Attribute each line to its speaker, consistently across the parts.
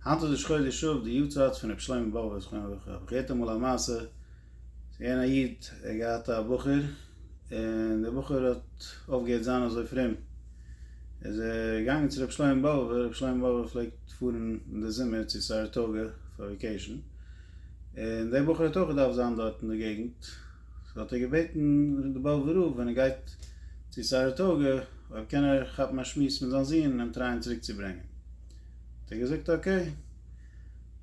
Speaker 1: היינט איז ראש חודש אב, די יארצייט פון רבי שלמה באבוב זכרונו לברכה, האב איך געהערט אמאל א מעשה, ס'איז געווען א איד, ער האט געהאט א בחור, און דער בחור האט אויפגעהערט זיין אזוי פרום, איז ער געגאנגען צו רבי שלמה באבוב, רבי שלמה באבוב פלעגט פארן אין די זומער צו סאראטאגע פאר וועקעישן, און דער בחור האט אויך געדארפט זיין דארט אין די געגנט, סאו האט ער געבעטן די באבוב'ע רב ווען ער גייט צו סאראטאגע אויב קען ער כאפן א שמועס מיט זיין זון און אים טרייען צוריק צו ברענגען. האט ער געזאגט אקעי.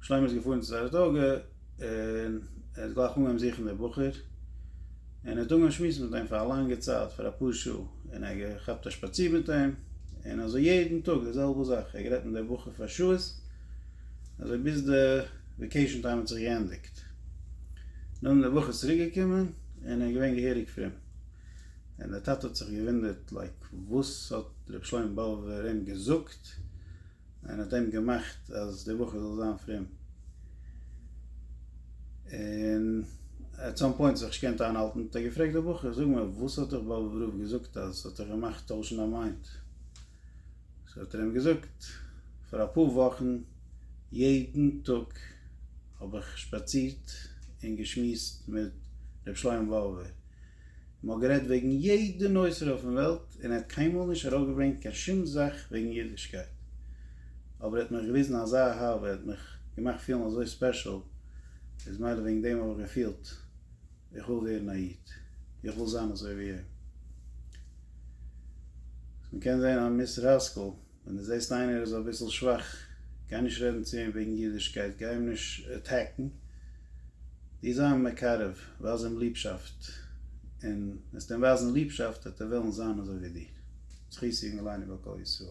Speaker 1: שלמה איז געפארן צו סאראטאגע, און ער האט גלייך אנגעהויבן זוכן די בחור, און ער האט אנגעהויבן שמועסן מיט אים פאר א לאנגע צייט, פאר אפאר שעה, און ער האט געכאפט א שפאציר מיט אים, און אזוי יעדן טאג די זעלבע זאך, ער האט גערעדט מיט די בחור פאר שעות, אזוי ביז די וועקעישאן טיים האט זיך געענדיגט, נאכדעם איז די בחור צוריק געקומען, און ער איז געווען געהעריג פרום, און די טאטע האט זיך געוואונדערט לייק וואס האט רבי שלמה באבובער אים געזאגט, געזאגט, און האט אים געמאכט אז דער בחור זאל זיין פרום, און עט סאם פוינט זיך נישט געקענט איינהאלטן האט ער געפרעגט דער בחור, זאג מיר וואס האט דיך באבוב רב געזאגט אז עס האט דיך געמאכט טוישן דיין מיינד? סאו האט ער אים געזאגט, פאר אפאר וואכן יעדן טאג האב איך שפאצירט און געשמועסט מיט ר' שלמה באבובער, מען האט גערעדט וועגן יעדע נושא אויפן וועלט און ער האט קיינמאל נישט ארויפגעברענגט קיין שום זאך וועגן אידישקייט, אבער ער האט מיך געוויזן אזא אהבה, ער האט מיך געמאכט פילן אזוי ספעשל, איז מילא וועגן דעם האב איך געפילט איך וויל ווערן א איד, איך וויל זיין אזוי ווי אים. מען קען זען אז מיסטער האסקעל ווען דו זעסט איינער איז אביסל שוואך, גיי נישט רעדן צו אים וועגן אידישקייט, גיי אים נישט עטעקן, דו זיי אים מקרב, ווייז אים ליבשאפט, און וועסטו אים ווייזן ליבשאפט וועט ער וועלן זיין אזוי ווי דיר. זכות יגן עלינו ועל כל ישראל.